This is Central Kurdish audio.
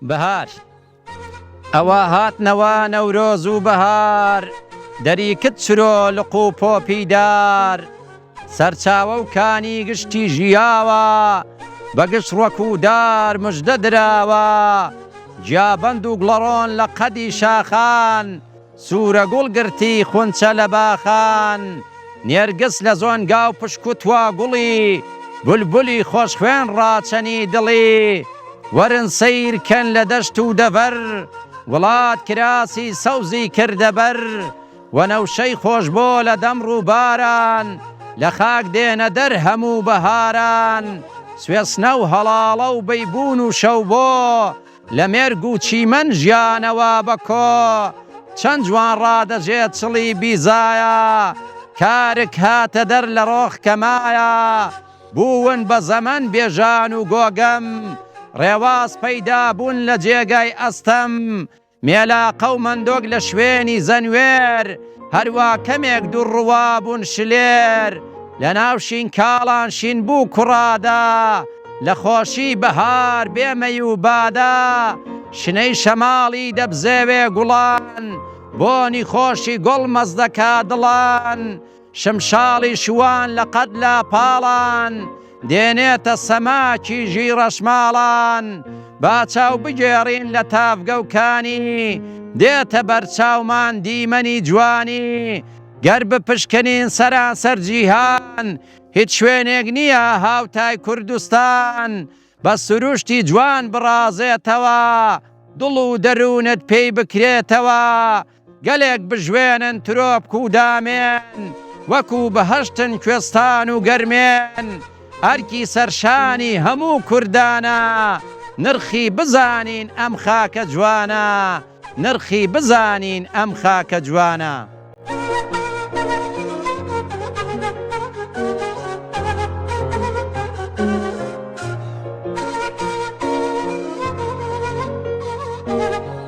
بەهار ئەوا هاتنەوە نەورۆز و بەهار دەریکت چرۆ لق و پۆپی دار سەرچاوە و کانی گشتی ژیاوە بە گشت ڕوەک و دار مژدە دراوە جیابەند و گڵەڕۆن لە قەدی شاخان سوورە گوڵ گرتی خونچە لە باخان نێرگس لە زۆنگاو پشکوتوا گوڵی بولبولی خۆش خوێن ڕاچەنی دڵی وەرن سەیر کەن لە دەشت و دەڤەر وڵات کراسی سەوزی کردە بەر وەنەوشەی خۆشبۆ لە دەم ڕووباران لە خاک دێنە دەر هەموو بەهاران سوێسنە و هەڵاڵە و بەیبوون و شەوبۆ لە مێرگ و چیمەن ژیانەوە بە کۆ چەند جوان ڕادەجێت چڵی بیزایە کارک هاتە دەر لە ڕۆخ کە مایە بوون بە زەمەن بێژان و گۆگەم ڕێواس پەیدا بوون لە جێگای ئەستەم مێلاقە و مەندۆک لە شوێنی زەنوێر هەروا کەمێک دوو ڕوا بوون شلێر لە ناو شینکاڵان شین بوو کوڕادا لە خۆشی بەهار بێ مەی و بادا شنەی شەماڵی دەبزێوێ گوڵان بۆنی خۆشی گوڵ مەست دەکا دڵان شمشاڵی شوان لە قەد لاپاڵان دێنێتە سەماکی ژیڕەشماڵان با چاو بگێڕین لە تاڤگە و کانی دێتە بەرچاومان دیمەنی جوانی گەر بپشکنین سەرانسەر جیهان هیچ شوێنێک نییە هاوتای کوردستان بە سروشتی جوان بڕازێتەوە دڵ و دەروونت پێی بکرێتەوە گەلێک بژوێنن ترۆپک و دامێن وەکو بەهەشتن کوێستان و گەرمێن ئەرکی سەرشانی هەموو کوردانە نرخی بزانین ئەم خاکە جوانە نرخی بزانین ئەم خاکە جوانە.